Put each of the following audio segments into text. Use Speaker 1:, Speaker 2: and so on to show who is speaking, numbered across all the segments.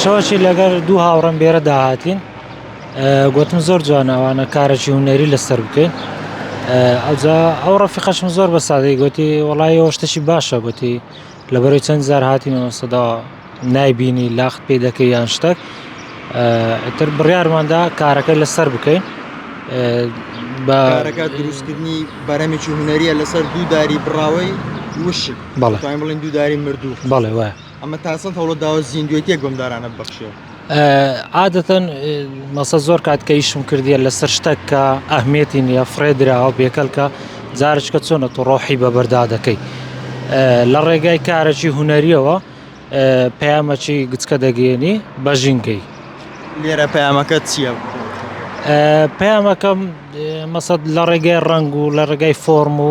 Speaker 1: شەوەکی لەگەر دوو هاوڕم بێرە داهاتین گوتم زۆر جوان ئەوانە کارەی هوەری لەسەر بکەین ئەوجا ئەو ڕفیقەشم زۆر بە سادەی گوتی وڵی ئەوشتەشی باشە گوتی لە بەرەی چەند زار هاتینەوە سەدا نایبینی لاخت پێ دەکەی یان شتەک تر بڕارماندا کارەکە لەسەر بکەین بەکارەکە
Speaker 2: دروستکردنی بەرەمێکی هوەریە لەسەر دوو داری بڕاوی وشک بەڵێ بڵین دووداری مردوو بەڵێ وایە عادەتەن
Speaker 1: مەسە زۆر کات کە ئیشم کردیە لەسەر شتەک کە ئەهمێتی نیە فرێ دراوە بێکەلکە جارشکە چۆنە تۆ ڕۆحی بەبەردا دەکەی لە ڕێگای کارەی هوەریەوە پەیامەچی گچکە دەگەێنی بە ژینگەی لێرە
Speaker 2: پەیامەکە چیە؟ پەیامەکەم
Speaker 1: مەسەد لە ڕێگای ڕنگ و لە ڕێگای فۆرم و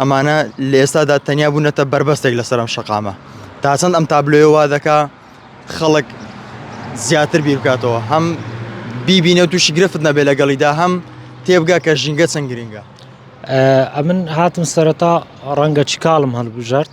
Speaker 2: ئەمانە لە ئێستادا تەنیا بوونەتە بەربەستێک لەسەر ئەم شەقامە، تا چەند ئەم تابلۆیە وا دەکا خەڵک زیاتر بیر بکاتەوە، هەم بیبینێ و تووشی گرفت نەبێ لەگەڵیدا، هەم تێبگا کە ژینگە چەند گرینگە. ئەمن
Speaker 1: هاتم سەرەتا ڕەنگە چکاڵم هەڵبژارد.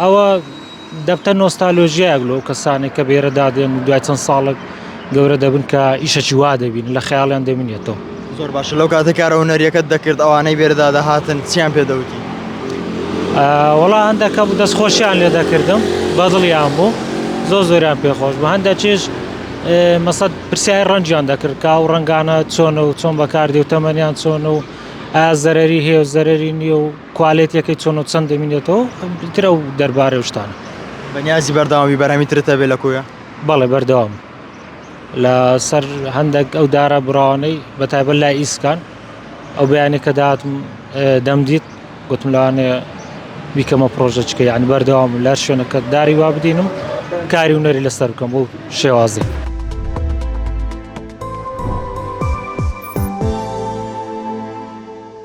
Speaker 1: ئەوە دەبتە نۆستالۆژیایەک لەو کەسانێک کە بێرە دادێن و دوای چەند ساڵک گەورە دەبن کە ئیشەکی وا دەبین لە خەیاڵیان دەمینێتەوە. زۆر باشە لەو کاتە
Speaker 2: کارە هونەریەکەت دەکرد ئەوانەی بێرەدا دەهاتن چیان پێ دەوتی؟
Speaker 1: وەڵا هەندەکە بوو دەست خۆشیان لێ دەکردم بەدڵیان بوو زۆر زۆریان پێخۆش بە هەندە چێش مەسەد پرسیای ڕەنجیان دەکرد کا و ڕەنگانە چۆنە و چۆن بەکاردێ و تەمەنیان چۆن و ئازەرری هێ و زەرری نییە و کوالێتیەکەی چۆن و چەند دەمینێتەوە ئیتر ئەو دەربارەی و شتانە. بەنیازی بەردەوامی
Speaker 2: بەرامی ترت هەبێ لە کۆیە؟ بەڵێ بەردەوام
Speaker 1: لەسەر هەندێک ئەو دارە براوانەی بە تایبەت لای ئیسکان ئەو بەیانی کە داتم دەمدیت گوتم لەوانێ بیکەمە پرۆژەچکە یعنی بەردەوام لە شوێنەکە داری وا بدینم کاری و نەری لەسەر بکەم بۆ شێوازی.